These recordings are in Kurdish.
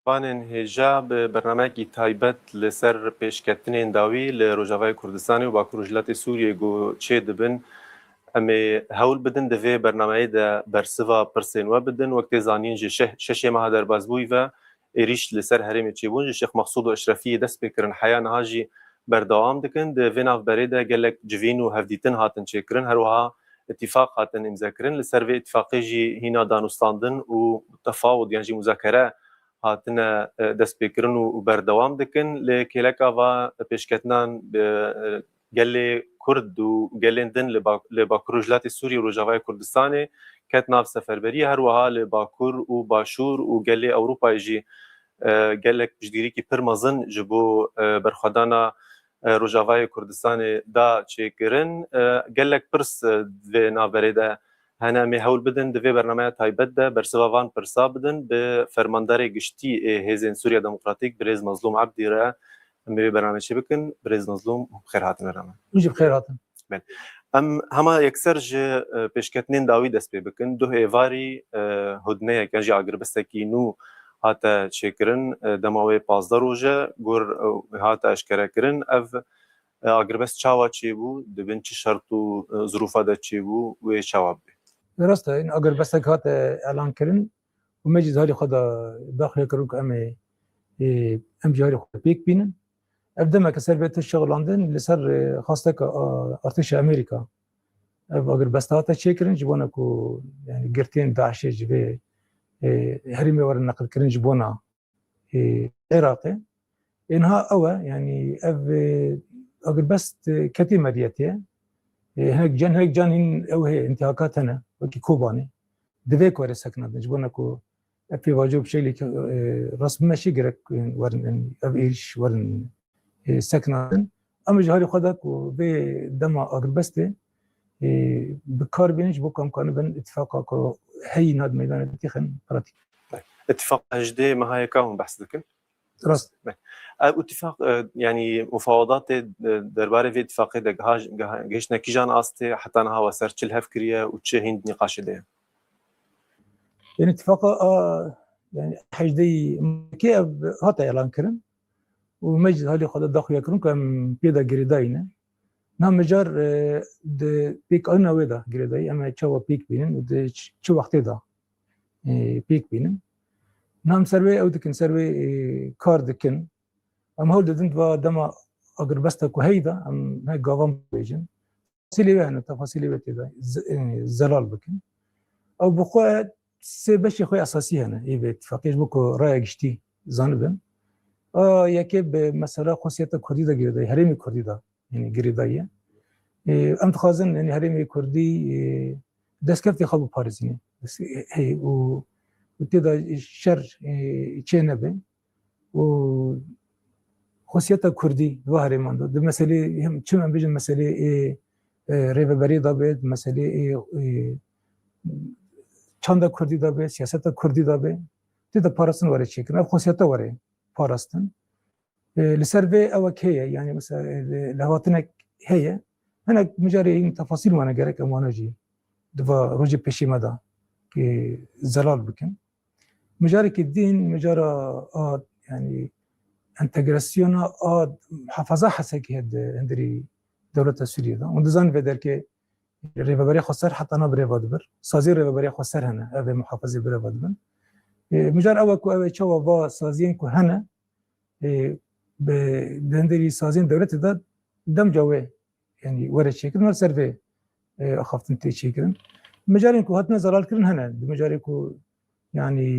Panên hêja bi bernameyekî taybet li ser pêşketinên dawî li Rojavayê Kurdistanê û Bakur Rojhilatê Sûriyê ku çê dibin. Em ê hewl bidin di vê bernameyê de bersiva pirsên we bidin. Wek tê zanîn ji şeşê meha derbasbûyî ve êrîş li ser herêmê çêbûn. Ji Şêx Mexsûd û Eşrefiyê dest pê kirin heya niha jî berdewam dikin. Di vê navberê de gelek civîn û hevdîtin hatin çêkirin. Her wiha îtîfaq hatin îmzekirin. Li ser vê îtîfaqê jî hîna danûstandin û tefawut yan jî muzakere hatine destpêkirin û berdewam dikin. Lê kêleka va pêşketinan bi gelê Kurd û gelên din li Bakur Rojhilatê Sûriyê û Rojavayê Kurdistanê ket nav seferberiyê. Her wiha li Bakur û Başûr û gelê Ewropayê jî gelek piştgirîkî pir mezin ji bo berxwedana Rojavayê Kurdistanê da çêkirin. Gelek pirs di vê navberê de hene em ê hewl bidin di vê bernameya taybet de bersiva van pirsa bidin bi Fermandarê Giştî ê Hêzên Sûriya Demokratîk Birêz Mezlûm Ebdî re. Em ê vê bernameyê çêbikin. Birêz Mezlûm bi xêr hatin vera me. Hûn jî bi xêr hatin. Bên. Em hema yekser ji pêşketinên dawî dest pê bikin. Duh êvarî hudneyek yan jî agirbistekî nû hate çêkirin. Dema wê pazdeh roj e ku hate eşkerekirin. Ev agirbest çawa çêbû, di bin çi şert û zirûfa de çêbû wê çawa bibê? Lê rast e hin agirbestek hate elankirin û me jî di halê xwe de daxile kiribû ku em ê em jî halê xwe pêk bînin. Ev demeke ser bê tiştşexilandin li ser xasteka artêşa Amerîka. Ev agirbesta hate çêkirin ji bona ku yani girtiyên DAIŞê ji vê herîmê werin neqilkirin ji bona Iraqê. Ênha ew e yani ev agirbest ketê medyetê hinek can hinek can hîn ew hê intihakat hene wekî Kobanê. Divê ku erê sekna bin ji bona ku Ev pêvajo bi şeklê ke rast bime şê gerek werin in ev êriş werin sekna din. Em ji halê xwe de ku vê dema agirbestê bi kar bêne ji bo ku em karin bin îtîfaqa ku heyî nat meydanê têxin pratîk. Îtîfaqa hejdê meha ye ka hûn behs dikin? Rast e. Ev itîfaq yanî mufawadatê derbarê vê itîfaqê de giha gihişne kîjan astê heta niha we ser çi li hev kiriye û çi hîn di nîqaşê de ye? Yanî itîfaqa yanî hejdeyî kê ev hate elankirin û me jî halê xwe de daxuya kirin ku em pê de girêdayîne. Niha mijar di pêkanîna wê de girêdayî em ê çawa pêk bînin û di çi wextê de. pêk bînin nam ser wê ew dikin ser wê kar dikin em hewl didin va dema agirbesta ku heyda em ne gavan bêjin silê wê hene tefasilê wê têda zelal bikin ew bi xwe sê beşê xwe esasî hene ê vê ittifaqê ji bo ku raya giştî zanibin yekê bi mesela xosiyeta kurdî de girêdayî herêmî kurdî de yani girêdayî em dixwazin yani herêmê Kurdî destkeftê xwe biparêzîne hey û têda şer çê nebe û xosiyeta Kurdî va herêman de di meselê hem çim em bijin meselê ê rêveberê da be di meselê ê çanda Kurdî da be siyaseta Kurdî da be têda parastin were çêkin ev xosiyeta were parastin Li ser vê ewek heye yanî mesela lehvatinek heye hinek micarê hîn tefasîl wane gerek em wana jî di va rojê pêşî me da ki zelal bikin. Micarekî dîn micara a yanî entegrasyona a hefaza hesekî heye di hindirî dewleta Sûriyê da. Hûn dizanî vê derkê rêveberê xwe ser heta na birêva dibir. Saziyê rêveberê xwe ser hene ev ê muhafazê birêva dibin. Micar ew ku ew ê çawa va saziyên ku hene bi denderî sazên dewletê de demca wê yanî were çêkirin wer ser vê axaftin tê çêkirin. Micarên ku hatine zelalkirin hene di micarê ku yanî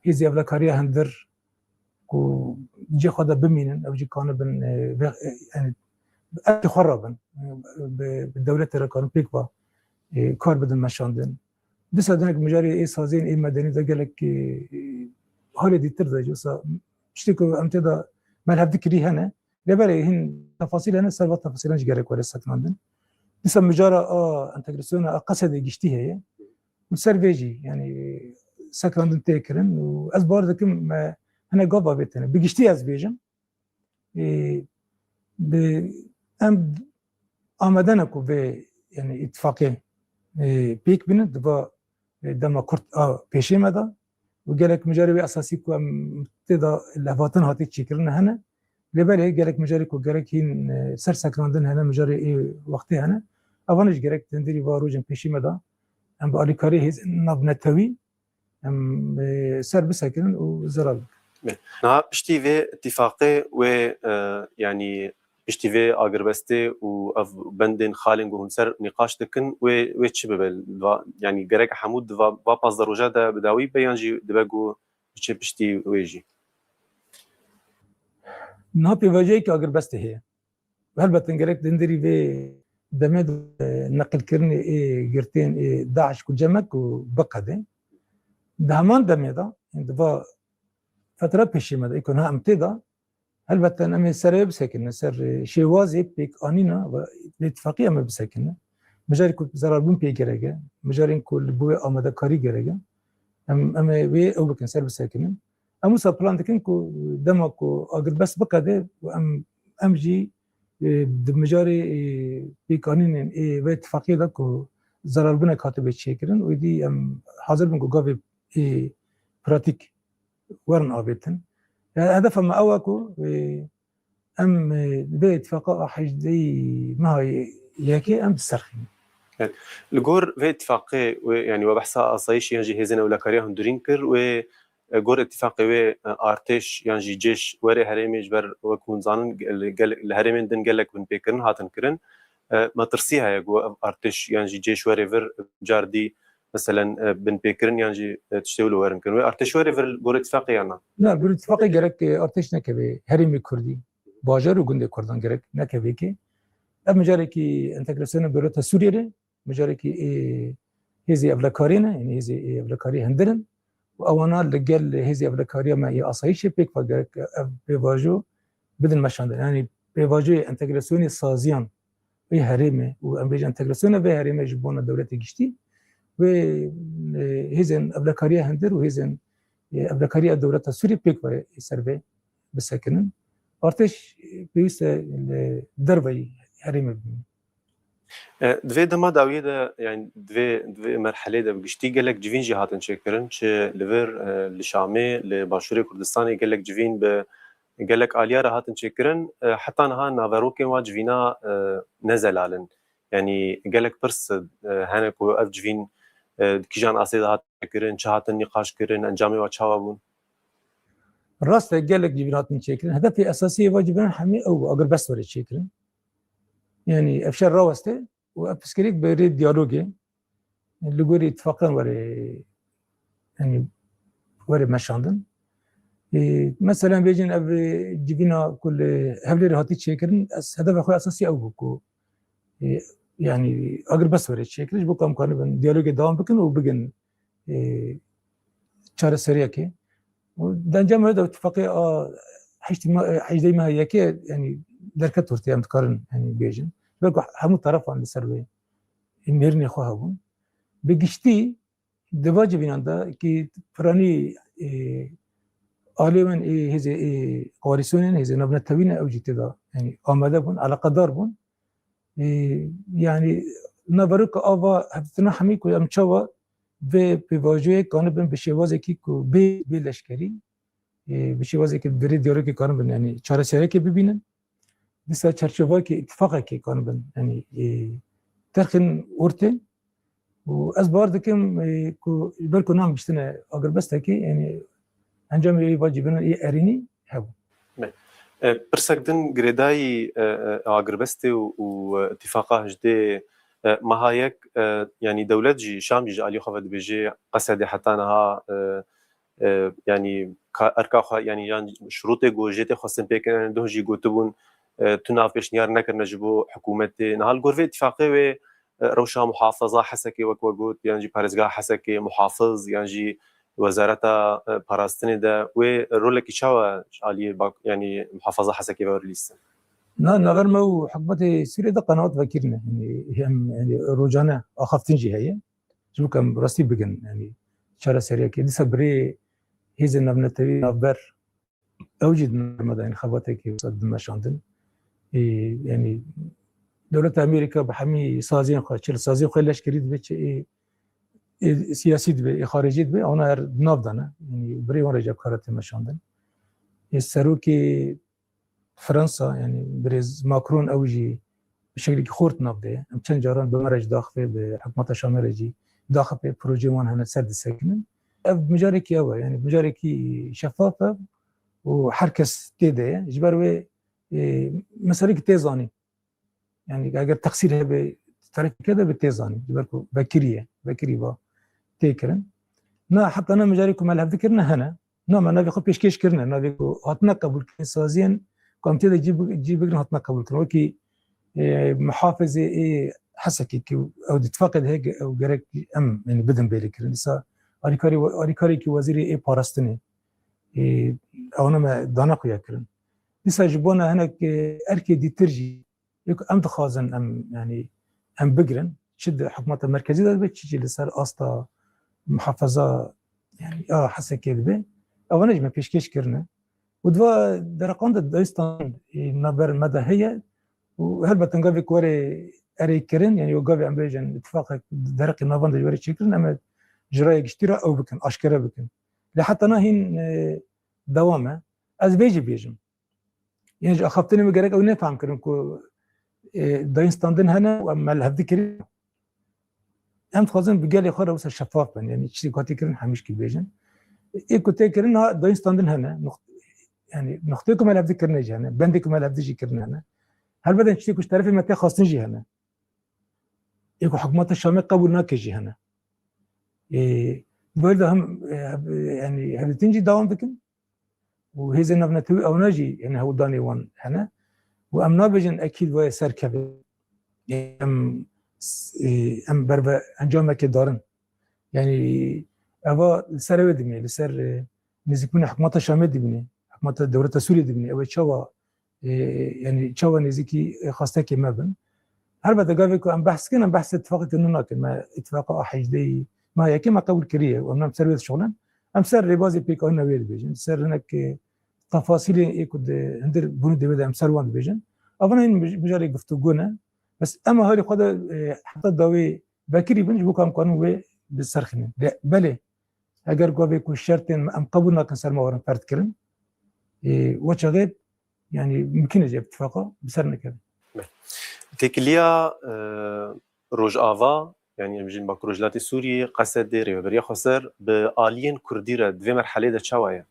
hêzî evlakariya hindir ku cê xwe de bimînin ew jî kane bin erkê xwe rabin bi dewletê re karin pêk va kar bidin meşandin. Dîsa denek mijarê ê saziyên ê medenî de gelek halê dîtir de ji sa tiştê ku em têda melhev dikirî hene. Lê belê hîn tefasîl hene ser va tefasîlan jî gerek were sekinandin. Dîsa mijara a entegrasyona a Qesedê giştî heye û ser vê jî yanî sekinandin tê kirin û ez bar dikim me hinek gav avêtene. Bi giştî ez bêjim bi em amadene ku vê yani ittifaqê pêk bînin di va dema kurt a pêşê me de û gelek mijarê wê esasî ku em tê de lehvatin hatî çêkirin hene lê belê gelek mijarê ku gerek hîn ser sekrandin hene mijarê ê wextê hene evan ji gerek tendirî va rojên pêşî me de em bi alîkarê hêzên navnetewî Em e, ser bisekirin û ziral bikin. Niha piştî vê îtîfaqê wê e, yanî piştî vê agirbestê û ev bendên xalên ku hûn ser nîqaş dikin wê wê çi bibe? Va- Yanî gerek hemû di va va pazdeh roja de bi dawî be yan jî dibe ku biçe piştî wê jî? Niha pêvajoyeke agirbestê heye. Helbet in gerek dindirî vê demê de neqilkirinê ê girtên ê DAIŞ ku cem e ku biqede. Di heman demê de yên di va fetra pêşîme de ê ku niha em tê de helbet in em ê serê bisekinin ser şêwazê pêkanîna ve li îtîfaqî em ê bisekinin. Mijarê ku zerarbûn pê gerek e, mijarên ku li bo wê amadekarî gerek e em em ê wê ew bikin ser bisekinin. Em wisa plan dikin ku dema ku agirbest biqede û em em jî di mijarê pêkanînên ê vê îtîfaqiyê de ku zerarbinek hatibê çêkirin û êdî em hazir bin ku gavê ê pratîk werin avêtin. Hedefa me ew e ku Em li vê îtîfaqa a hejdeyî meha yekê em diserxînin. Ket. Li gor vê îtîfaqê wê yanî we behsa asayîşê yan jî hêzên ewlekariya hundirîn kir. Wê gor îtîfaqê wê artêş yan jî cêş werê herêmê ji ber wek hûn dizanin li herêmên din gelek binpêkirin hatin kirin. Me tirsî heye ku ev artêş yan jî cêş were vir car dî meselen binpêkirin yan jî tiştê wilo werin kirin. Wê artêş were vir li gorî tifaqê yan na? Na, gorî tifaqê gerek artêş nekeve herêmê kurdî, bajar û gundê kurdan gerek nekeve ki ev micarekî entegrasyona dewleta Sûriyê re micarekî hêzê evlekarê ne, yanî hêzê evlekarî hundir in. û ewana li gel Hêzê Evlekariya me yê Asayîşê pêk xwe girt ke ev pêvajo bidin meşandin. Yanî pêvajoyê entegrasyonê saziyan vê herêmê û em bêjin entegrasyona vê herêmê ji bona dewletê giştî wê hêzên evlekariya hundir û hêzên evlekariya dewleta Sûriyê pêk ve ser vê bisekinin. Artêş pêwîste li derveyî herêmê bimîne. Di vê dema dawiyê de yan di vê di vê merheleyê de bi giştî gelek civîn jî hatin çêkirin çi li vir li Şamê li Başûrê Kurdistanê gelek civîn bi gelek aliya re hatin çêkirin heta niha naverokên wa civîna ne zelal in yanî gelek pirs hene ku ev civîn di kîjan asê de hatin çêkirin çi hatin nîqaş kirin encamê wa çawa bûn Rast e gelek civîn hatin çêkirin hedefê esasî eva civînan hemî ew agir bes were çêkirin Yani ev şer raweste û ev piskirêk bi rê diyalogê li gorî îttifaqan were yani were meşandin. Mesela bêjin ev civîna ku li hevlêrê hatî çêkirin ez hedefa xwe esasî ew bû ku yani agir bes were çêkiriş bo kamkanibin diyalogê devam bikin û bigin çareseriyekê û di encama wê de tifaqê a hejdeyî meha yekê yanî derket ortaya em dikarin yanî bêjin ji ber ku hemû tarafan li ser wê mêrinê xwe hebûn bi giştî di va civînan de kî piranî alê min ê hêzê ê koalîsyonên hêzên navnetewî ne ew jî tê de yanî amade bûn eleqedar bûn Yani na veroka ava hevdîtina hemî ku em çawa vê pêvajoyê kanibin bi şêwazekî ku bê bê leşkerî bi şêwazekî dirê diyarokê kanibin yani çareserekê bibînin disa çerçevakê îtîfaqekê kanibin yani terxên ortê û ez bar dikim ku ji ber ku nam giştine agirbestekî yanî encamê wê va cîbirina ê erênî hebû. Pirsek din girêdayî agirbestê û îtîfaqa hijdê meha yek yanî dewlet jî, Şam jî ji aliyê xwe ve dibêjê qesedê heta niha yanî erka xwe yanî yan şirûtê ku jê tê xwestin pê kirin duh jî gotibûn tu nav pêşniyar nekirine ji bo hikûmetê. Niha li gor vê îtîfaqê wê rewşa muhafeza hesekê wek we got yan jî parêzgeha hesekê muhafiz yan jî wezareta parastinê de wê rolekî çawa ji aliyê yanî muhafeza hesekê ve were lîstin? Na navber me û hikûmetê Sûriyê de qenaat vekirine. Yanî em rojane axaftin jî heye. Ji bo ku em rastî bigin yanî çareseriyekê dîsa bi rê hêzên navnetewî navber ew jî di nirma de yanî xebatekê wisa dibin meşandin. Ê yanî dewleta Amerîka bi hemî saziyên xwe çil saziyên xwe leşkerî dibe çi ê ê siyasî dibe ê xaricî dibe ona her di nav de ne yanî bi rê wan re jî ev kara tê meşandin. Ê serokê Fransa yanî birêz Macron ew jî bi şeklekî xort nav dê. Em çend caran bi me re jî daxivê bi hikûmeta Şamê re jî daxipê projeyên wan hene ser disekinin. Ev bi mijarekî ew e yanî bi mijarekî şefaf e û her kes tê de ye. Ji ber wê meselekî tê zanîn. Yani eger teksîr hebe terekîke de bi tê zanîn ji ber ku vekirî ye vekirî va tê kirin na heta ne mijarê ku me li hev dikirine hene na me navê xwe pêşkêş kirine navê ku hatine qebûlkirin saziyên ku em tê de cî bigirin hatine qebûlkirin wekî mihafizê ê hesekî ku ew di tifaqê de heye ew gerek em yani bidin bêrê kirin îsa alîkarê alîkarekî wezîrê ê parastinê ew ne me dana xwe ya kirin Dîsa ji bona hinek erkê dîtir jî lê ku em dixwazin em yanî em bigirin çi di hikûmeta merkezî de dibe çi jî li ser asta mihafeza yanî a hesekê dibe ewan jî me pêşkêş kirine û diva dereqan de dayistan naber me de heye û helbetin gavê ku were erê kirin yanî o gavê em bêjin ittifaqek dereqê navan de were çêkirin em ji raya giştî re ew bikin aşkere bikin lê heta na hîn dewam e Ez vê jî bêjim. Yê ji axaftinê min gerek ew nefam kirin ku dayîn standin hene û em li hevdî kirin. Em dixwazin bi gelê xwe re wisa şefaf bin, yanî çi hatî kirin hemîşkî bêjin. Ê ku tê kirin ha dayîn standin hene, yanî nuxtê ku me li hevdî kirine jî hene, bendê ku me li hevdî jî kirine hene. Helbede çi ku ji terefê me tê xastin jî hene. Ê ku hikûmeta Şamê qebûl nake jî hene. Ê Böyle hem yani hevletinci devam dikin. û hêzên navnetewî ewna jî hêne hewldanê wan hene û em nabêjin ekîd wayê ser keve em em berve encamekê darin yanî eva li ser ew dimîne li ser nêzîkbûna hikûmeta Şamê dimîne hikûmeta dewleta Sûriyê dimîne ew ê çawa Yanî çawa nêzîkî xastekê me bin. Helbete gavê ku em behs dikin em behsê îtîfaqeke nû nakin. Me îtîfaqa a hejdehî niha yekem a qebûl kiriye û em li ser wê dişuxulin. Em ser rêbazê pêkanîna wê dibêjin. Ser hinek tefasîlên ê ku di hundir bûnî divê de em ser wan dibêjin. Evina hîn mijarê guftûgû ne. Bes em a herî xwe de heta dawê vekirî bin ji bo ku em karin wê biserxînin. Belê Eger gavê ku şertên me em qebûl nakin ser me werin ferd kirin, we çavê yanî mimkîn e cê bi tifaqa bi ser nekevin. Têkiliya Rojava yanî em jîn Bakur Rojhilatê Sûriyê Qesedê Rêveberiya Xweser bi aliyên Kurdî re di vê merheleyê de çawa ye?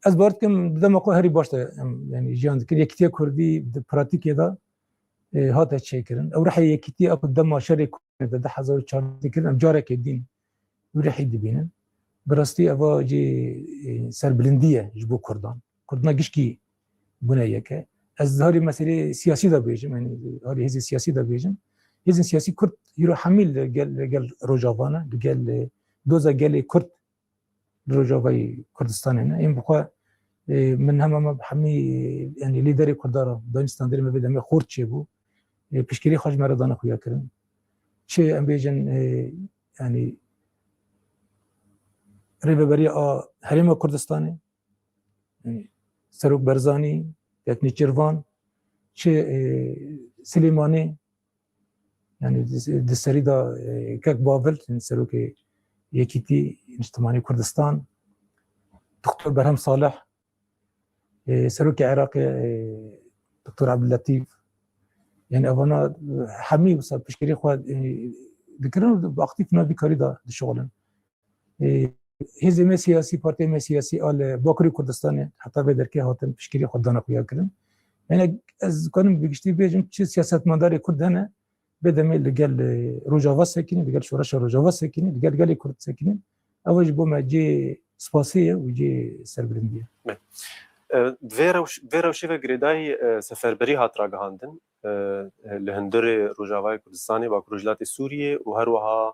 Ez bawer dikim di dema xwe herî baş de em yanî jiyan dikir. Yekîtiya Kurdî di pratîkê de hate çêkirin. Ew rihê yekîtiya ku dema şerê Kurdî di hezar û çar dikir em carekê dîn Wrîhî dibînin. Bi rastî eva jî serbilindî ye ji bo Kurdan. Kurdina gişkî bûne yeke. Ez di harî meselê siyasî de bêjim, yanî harî hêzên siyasî de bêjim. Hêzên siyasî Kurd îro hemî li gel li gel Rojava ne, li gel doza gelê Kurd li Rojavayê Kurdistanê ne. Yên bixwe min hema me hemî yanî lîderê Kurdan re dayîn standarê me vê demê xort çêbû. piştgirî xwe ji me re dane xuyakirin. Çi em bêjin yanî rêveberiya a herêma Kurdistanê Serok Berzanî, Teknî Çirvan, çi Silêmanê yani di serî da kek bavil serokê Yekîtî Niştimanî Kurdistan, Doktor Berhem Salih Serokê Iraqê Doktor Abdulletîf yani evana hemî wisa pişkerî xwe dikirin û bi aktîf navîkarî da dişixulin. Hêzê me siyasî, partiyê me siyasî a li Bakirê Kurdistanê heta vê derkê hatin pişkerî xwe dana xuya kirin. Yani ez dikarim bi giştî bêjim çi siyasetmedarê Kurd hene Bê demê li gel Rojava sekinîn, li gel Şoreşa Rojava sekinîn, li gel gelê Kurd sekinîn. Ew ji bo me cê spasê ye û cê serbilindî ye. Vê rewşê ve girêdayî seferberî hat ragihandin li hundirê Rojavayê Kurdistanê, Bakur Rojhilatê Sûriyê û her wiha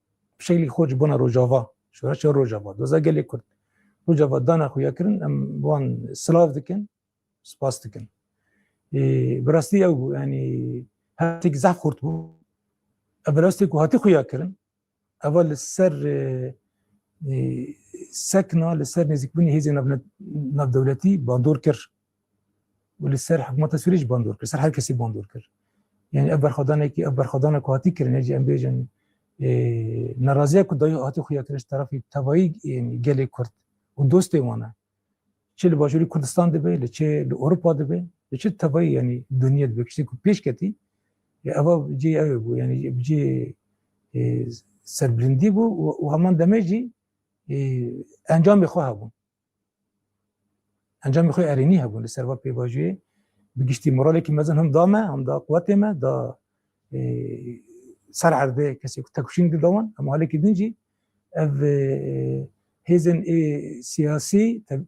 Bi şeklî xwe ji bona Rojava, şoreşa Rojava, doza gelê Kurd, Rojava dana xwe ya kirin em wan silav dikin, spas dikin. Bi rastî ew bû yanî hevtêk zehf xurt bû. Ev bi rastê ku hatî xwe ya kirin, ev li ser sekna li ser nêzîkbûnê hêzên navdewletî bandor kir. û li ser hikûmeta Sûriyê jî bandor kir, li ser her kesî bandor kir. Yanî ev berxwedanekî ev berxwedana ku hatî kirin hêjî em bêjin neraziya ku dayî hatî xuya kirin ji terefî tevayî gelê Kurd û dostê wan e. Çi li bajûrî Kurdistan dibe, li çi li Ewropa dibe, li çi tevayî yanî dûniye dibe tiştê ku pêş ketî eva cihê ew ê bû yanî bi cihê serbilindî bû û heman demê jî encamê xwe hebûn. Encamê xwe erênî hebûn li ser va pêvajoyê bi giştî moralekî mezin him da me, him da quwetê me, da ser erdê kesê ku tekuşîn di dawan hemû halekî din jî ev hêzên ê siyasî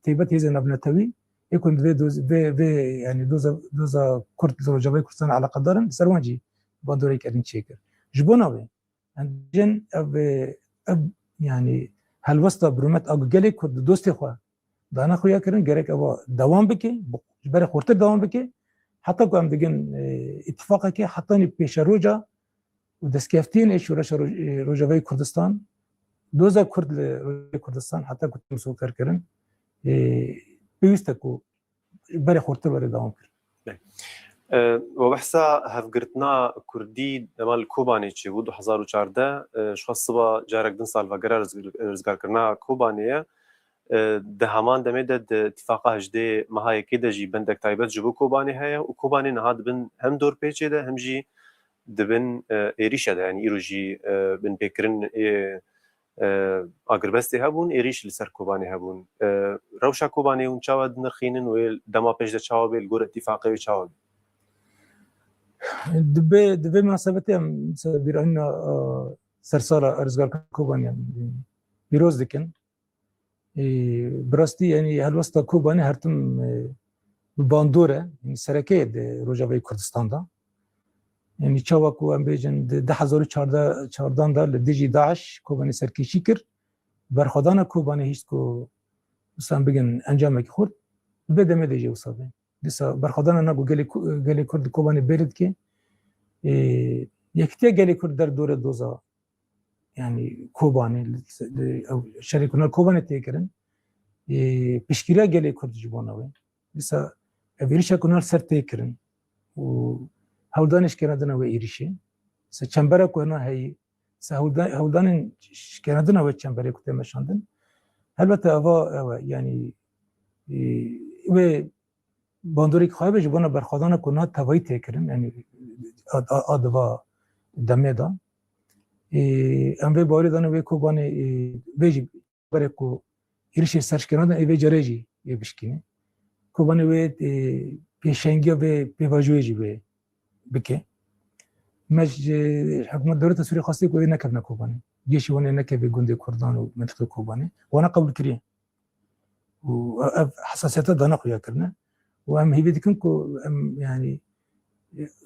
têbet hêzên navnetewî ê ku divê vê vê yanî doza doza Kurd li Rojavayê Kurdistanê eleqedar in li ser wan jî bandorek erîn çêkir. Ji bo navê Hindicên ev ev yanî helwesta birûmet a ku gelê Kurd di dostê xwe dana xuya kirin gerek ev dewam bike ji berê xurtir dewam bike heta ku em digin îtîfaqekê hetanî pêşeroja û destkeftiyên ê şoreşa Rojavayê Kurdistan doza Kurd li Rojavayê Kurdistan heta ku tê misoferkirin pêwîste ku berê xurtir were dewam kir. We behsa hevgirtina Kurdî dema li Kobanê çêbû du hezar û çardeh ji xwe siba carek din salvegera rizgarkirina Kobanê ye. Di heman demê de di Îtîfaqa hejdê meha Yekê de jî bendek taybet ji bo Kobanê heye û Kobanê niha dibin hem dorpêçê de hem jî dibin êrîşe de yanî îro jî binpêkirin ê Agirbestê hebûn, êrîş li ser Kobanê hebûn. Rewşa Kobanê hûn çawa dinirxînin wê dema pêş de çawa bê, li gor îtîfaqê wê çawa bê? Di vê di vê minasebetê em bîranîna sersala Rizgarka Kobanê pîroz dikin. Bi rastî yanî helwesta Kobanê her tim bi bandor e, yanî sereke ye di Rojavayê Kurdistan de. Yanî çawa ku em bêjin di du hezar û çardan de li dijî DAIŞ Kobanê serkêşî kir, berxwedana Kobanê hîşt ku wisa em bigin encamekî xurt. Di vê demê de jî wisa be. Dîsa berxwedana na ku gelê gelê Kurd di Kobanê bêrî dike, yekitiya gelê Kurd der dore doza yani Kobanê şerê kuna Kobanê tê kirin piştgiriya gelê Kurd ji bona wê dîsa ev êrişa kuna ser tê kirin û hewldanê şikena dina wê êrişê se çembera ku hena heyî se hewldanên şikena dina wê çemberê ku tê meşandin helbete ava ew e yani wê bandorek xwe be ji bona berxwedana ku na tevayî tê kirin yanî a di va demê de em vê barê dane wê kobanê vê jî berê ku êrişê serşkêna de vê carê jî ê bişkîne kobanê wê pêşengiya vê pêvajoyê jî wê bike me ji hikûmet dewleta Sûriyê xwestiye ku wê nekevne kobanê gêşî wan ê nekevê gundê Kurdan û mintiqê kobanê wana qebûlkiriye û ev hesasiyeta dana xuya kirine û em hîvî dikin ku em yanî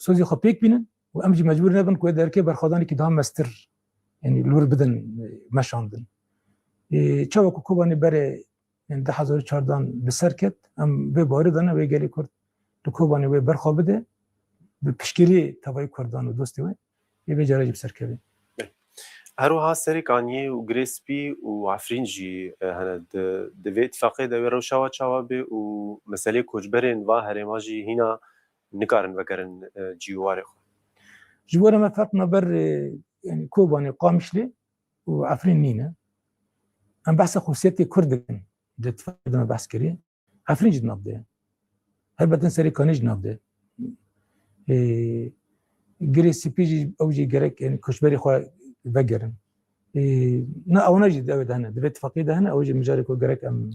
sozê xwe pêk bînin û em jî mecbûr nebin ku derkê berxwedanekî daha mestir yanî lûr bidin meşandin. Çawa ku Kobanê berê yani di hezar çardan bi ser ket em vê barê dana wê gelê Kurd li Kobanê wê berxwe bide bi piştgiriyê tevayî Kurdan û dostê wê. Yê vê carê jî bi ser kevin. Her wiha serê kaniyê û girê spî û efrîn jî hene. Di di vê îtîfaqê de wê rewşa wan çawa bê û meseleyê koçberên va herêma jî hîna nikarin vegerin cî û warê xwe. Ji bo re me feqna ber yanî Kobanê û Qamişlê û Efrîn nîne. Em behsa xwesiyetê Kurd dikin. Di îtîfaqê de me behs kirî. Efrîn jî di nav de ye. Helbetin serê kanê jî nav de ye. Girê sipî jî ew jî gerek yani koçberê xwe vegerin. Na ewna jî devê de hene, di vê tifaqiyê de hene ew jî mijarê ku gerek em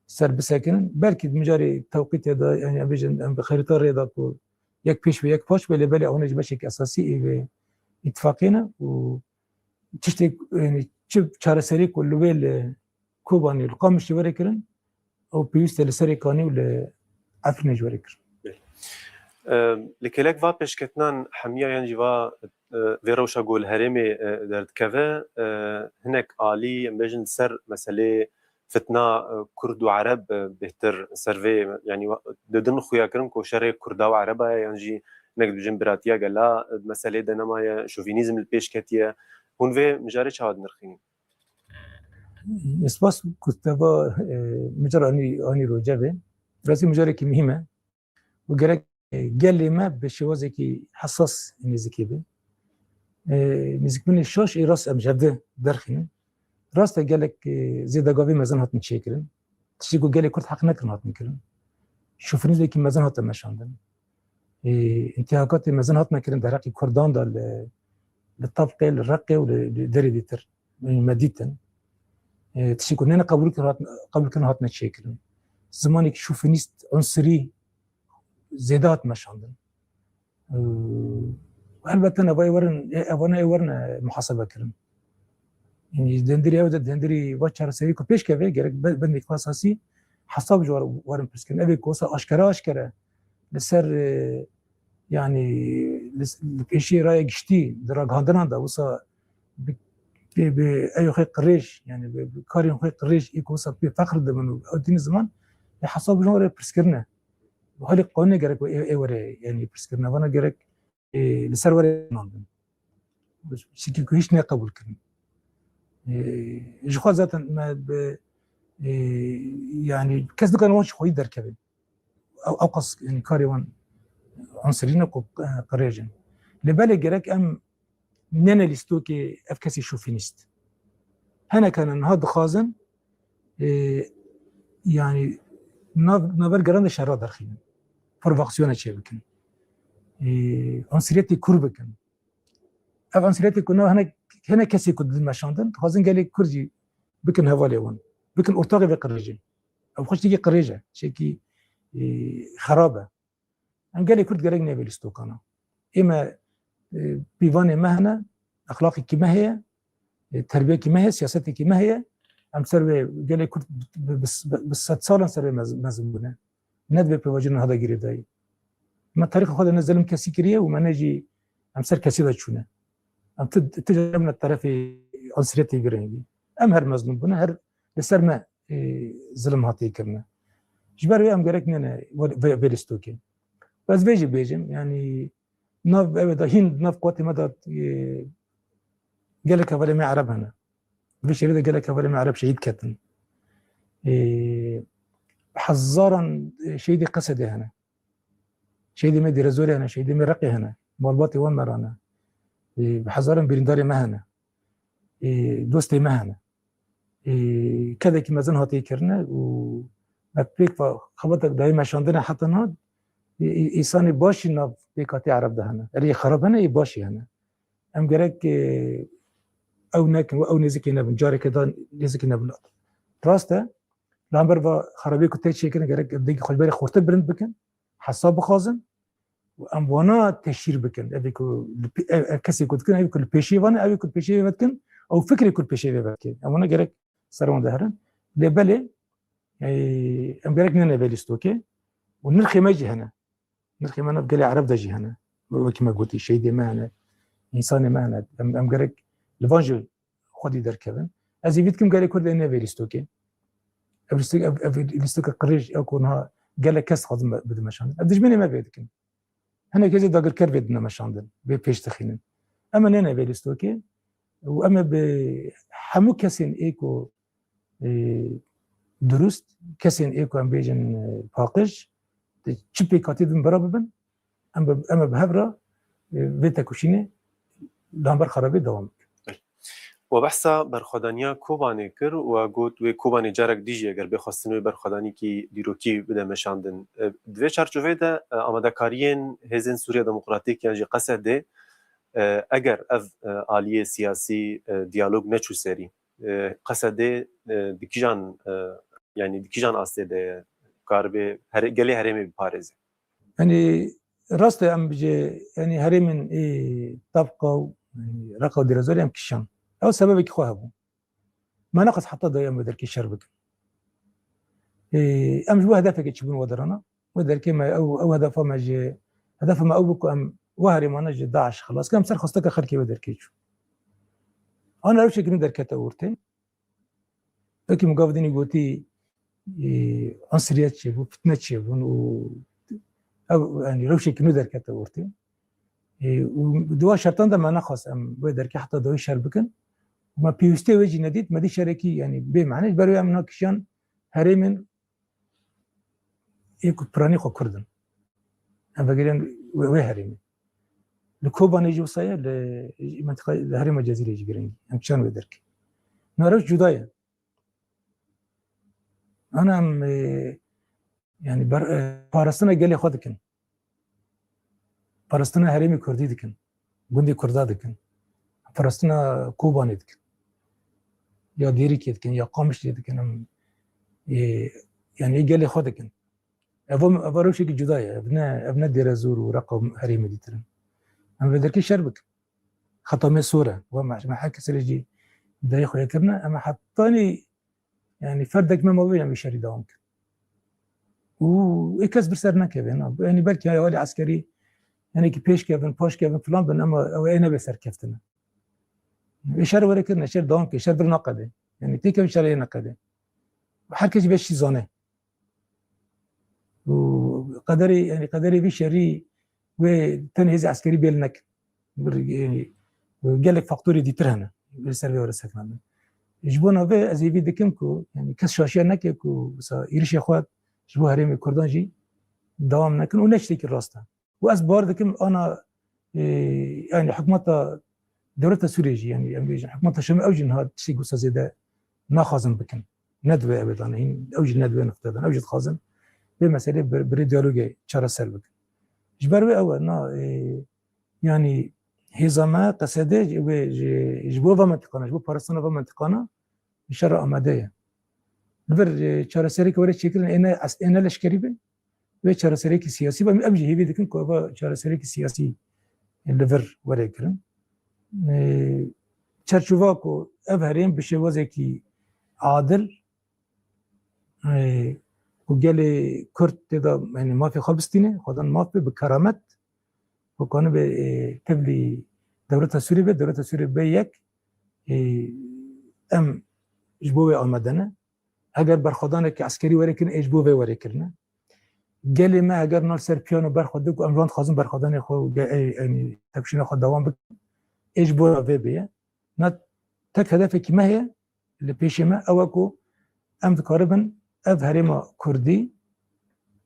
ser bisekinin. Belkî di mijarê tewqîtê de yani em bêjin em bi xerîta rê da ku yek pêş ve yek paş ve lê belê ewna jî beşek esasî ê vê îtifaqiyê ne û Tiştê yanî çi çareserî ku li wê li Kobanê û li Qamişê were kirin ew pêwîst e li Serê Kanî û li Efrînê jî were kirin. Li kêlek va pêşketinan hemiya yan jî va vê rewşa ku li herêmê derdikeve hinek alî em bêjin li ser meseleyê Fitna Kurd û Ereb bêhtir ser vê yanî di din xuya kirin ku şerê Kurda û Ereba ye yan jî hinek dibêjin biratiya gela di meseleyê de nemaye, şovînîzm li pêş ketiye. Hûn vê mijarê çawa dinirxînin? Spas ku te va mijara anî rojevê. Bi rastî mijarekî muhîm e. û gerek gelê me bi şêwazekî hesas nêzikê be nêzikbûnê şaş ê rast em ji hev di derxînin rast e gelek zêdegavê mezin hatin çêkirin tiştê ku gelê kurd heq nekirin hatin kirin şofirîzekî mezin hate meşandin intihakatê mezin hatine kirin dereqî kurdan da li li tavqê li reqê û li derê dîtir Min me dîtin. Tiştên ku nene qebûlkirin hatine çêkirin. Zimanekî şofinîst, unsirî zêde hatime şandin. Elbette navayê werin evana ê werin muhasebe kirin. Yani dendirî ew de dendirî va çareserî ku pêşkeve gerek bendek asasî hesab ji werin pirskirin. Evê ku wisa aşkere aşkere li ser yani li pêşê raya giştî di ragihandinan de wisa eyo xê qirêj yani karên xê qirêj ê ku wisa pê feqr dibin û ew dîn ziman lê hesab jina were pirsgirine bi halê qanûnê gerek ê ê were yani pirsgirine vana gerek ê li ser were nandin şekî ku hîç neqebûl kirin ji xwe zaten me bi yani kes nikare wan ji xwedî derkevin ew qas yani karê wan ansirîne ku qirêjin. Lê belê gerek em nene lîstokê ev kesî şofînîst. Henek hene niha dixwazin yani nav naber geran de şerra derxînin. Provokasyona çê bikin. Ansiriyetê kur bikin. Ev ansiriyetê ku nav henek henek kesê ku dilmeşandin, dixwazin gelê kur jî bikin hevalê wan. Bikin ortaxê ve qirêjin. Ev xuştikî qirêj e, çekî xerab e. Em gelê Kurd gerek nebe li stokana. Ê me pîvanê me hene, exlaqekî me heye, terbiyekî me heye, siyasetekî me heye. Em ser vê gelê Kurd bi sed salan ser vê mezin bûne. Ne divê pêvajonan hada girê dayî. Me tarîxa xwe de ne zelim kesî kiriye û me ne jî em ser kesî de çûne. Em tu tu ne terefê ansiyetê girengî. Em her mezlûm bûne, her Li ser me zilim hatiye kirine. Ji ber wê em gerek nene vê li stokên. Ez vê jî bêjim yanî nav ev da hîn nav qwatê me da gelek hevalê me ereb hene. Vê şerê de gelek hevalê me ereb şehîd ketin. Hezaran şehîdê qesedê hene. Şehîdê me dêrezorê hene, şehîdê me reqê hene. Malbatê wan me rane. Hezaran birîndarê me hene. dostê me hene kedekî mezin hatê kirine û me pêk va xebatek dayê meşandine heta na îsanê başî nav pêkatê ereb de hene erê xerab hene ê başî hene em gerek ew nekin û ew nêzikê nebin careke da nêzikê nebin rast e lamber va xerabê ku tê çêkirin gerek evdekî xweberê xurtir bilind bikin hesab bixwazin û em wana teşhîr bikin evê ku kesê ku dikin evê ku li pêşê van evê ku pêşê vê dikin ew fikrê ku pêşê vê vekê em wana gerek ser wan deherin lê belê em gerek nene vê lîstokê û nirxê me jî hene nirxê me nav gelê ereb de jî hene wekî me gotî şeydê me hene însanê me hene em gerek li van jî xwedî derkevin. Ez ê vî dikim gelê Kurd ê ne vê lîstokê. Ev lîstok ev ev lîstoka qirêj ew ku niha gelek kes dixwazin bidin meşandin. Ev dijminê me vê dikin. Hinek hêzê dagirker vê dine meşandin, vê pêş dixînin. Em ê nêne vê lîstokê û em ê bi hemû kesên ê ku durust, kesên ê ku em bêjin paqij, çi pêkhatî din bira bibin, Em bi em bi hev re vê tekuşînê lamber xerabê dewam bikin. We behsa berxwedaniya Kobanê kir û got wê Kobanê carek dî jî eger bê xwestin wê berxwedanîkî dîrokî bide meşandin. Di vê çarçoveyê de amadekariyên Hêzên Sûriya Demokratîk yan jî qsd eger ev aliyê siyasî diyalog neçû serî qsd di kîjan yanî di kîjan astê de ye karibê gelê herêmê biparêze? Yanî rast e em bi cê yanî herêmên ê Tavqa û Reqa û Dêrezorê em kişand. Ew sebebekî xwe hebû. Me nexwest heta dayê em bi derkê şer bikin. Ê em ji bo hedefekê çibûn wedirana. Wê derkê me ew ew hedefa me ji hedefa me ew bû ku em wê herêmane ji DAIŞ xilas bikin. Em ser xwesteke xelkê wê derkê çûn. Ana rewşeke nû derkete ortê. Peki mugavdini goti e, ansiriyet çê bû, fitne çê bûn û ev yani rewşekî nû derkete ortê. E, û di wan şertan de me nexwas em wê derkê heta dawî şer bikin. û Me pêwîstê wê jî nedît, me dî şerekî yani bê mane ji ber wê em na kişiyan herêmên ê ku piranî xwe kurd in. Em vegirên wê wê herêmê. Li Kobanê jî wisa ye li menteqa li herêma Cezîrê jî girîng em çan wê derk. Na rewş cuda ye. Ana em yani ber parastina gelê xwe dikin. Parastina herêmê Kurdî dikin. Gundê Kurda dikin. Parastina Kobanê dikin. Ya Dêrikê dikin ya Qamişlê dikin em yani gelê xwe dikin. Ev ev rewşekî cuda ye. Ev ne ev ne Dêrezor û Reqa û herêmê dîtir in. Em vê derkê şer bikin. Heta me sor e. Wan me me her kesê jî dayê xwe yê kirine em hetanî yanî ferdek me mavê em vê şerî dewam bikin. Û ê kes bir ser nekevin. Yanî belkî haya alî eskerî yanekî pêş kevin, paş kevin filan bin ema ew ê nebe serkeftin. Ê şer were kirine, şer dewam ke, şer bir naqedê. Yanî têkevin şer ê neqedê. Her kes jî vê şî zane. û qederê yani qederê vî şerî wê tenê hêzê eskerî bêl nekin yani gelek faktorê dîtir hene li ser vê were sekandin ji bo navê ez ê vî dikim ku yani kes şaşiya neke ku wisa êrişê xwe ji bo herêmê kurdan jî dewam nekin û ne ji têkî rast e Û ez bar dikim ana yani hikûmeta dewleta Sûriyê jî yani em bêjin hikûmeta Şamê ew jî niha tiştê wisa zêde naxwazin bikin. Ne divê ev dane hîn ew jî ne divê nifte dan ew jî dixwazin vê meselê birê diyalogê çareser bikin. Ji ber wê ew e na yani hêza me qesedê wê ji bo ve mentiqana ji bo parastina ve mentiqana şerra amade ye. Li vir çareserê ke were çêkirin êne êne leşkerî bin Vê çareserekî siyasî ve em jî hêvî dikin ku eva çareserekî siyasî li vir were kirin. Çerçova ku ev herêm bi şêwazekî adil ku gelê Kurd têda yani mafê xwe bistîne, xwedan maf be bi keramet ku kanibe tevlî dewleta Sûrê be, dewleta Sûrê be yek em ji bo wê amedene. Heger berxwedaneke eskerî were kirin ê ji bo vê were kirine. Gelê me heger nal ser piyano berxwedin ku em ji wan dixwazin berxwedanê xwe û yanî tepişîna xwe dewam bikin ê ji bo re vê bêye. Na tek hedefekî me heye li pêşê me ew e ku em dikaribin ev herêma kurdî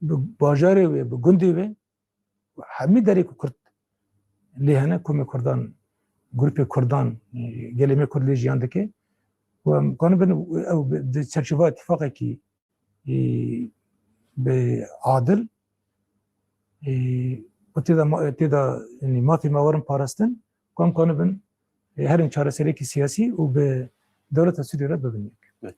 bi bajarê wê bi gundê wê Hemî derê ku kurd lê hene komê kurdan grûpê kurdan gelê me kurd lê jiyan dike û em kanin bin ew di çerçeva îtîfaqekî bi adil û têda têda mafê me werin parastin Kom koni bin e, herin çareserekî siyasî û bi dewleta Sûriyê re bibin yek.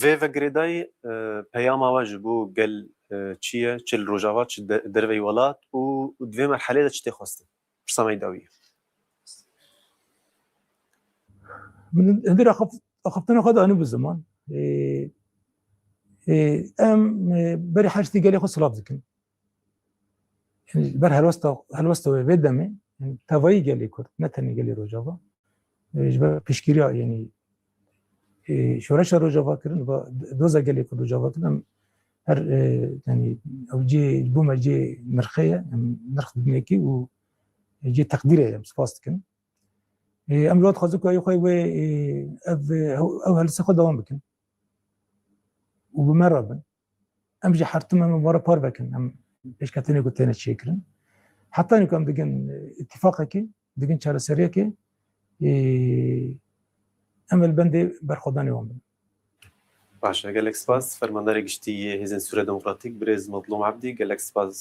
Vê vegirêdayî e, peyama we ji bo gel e, çi ye, çi li Rojava, çi de- derveyî welat û di vê merhelê de çi tê xwestin? Pirsa me yî dawî ye. Min hindê re xif- xiftina xwe de anî bi ziman. E, e, Em e, berî her tiştî gelê xwe silav dikin. Li ber helwesta helwesta wê vê demê tevayî gelê Kurd ne tenê gelê Rojava ji ber piştgiriya yenî şoreşa Rojava kirin va doza gelê Kurd Rojava kirin em her tenî ew cê bo me cê nirxê ye em nirx dinekî û cê teqdîrê em spas dikin. Em li dixwazin ku xwe wê ev ew helwesta xwe dewam bikin û bi me re bin. Em ji hertim em were par vekin em pêşketinê ku têne çêkirin. Hetanê ku em digin îtîfaqekê, digin çareseriyekê em li bendê berxwedanê wan bin. Baş e gelek spas Fermandarê Giştî yê Hêzên Sûriya Demokratîk Birêz Mezlûm Ebdî gelek spas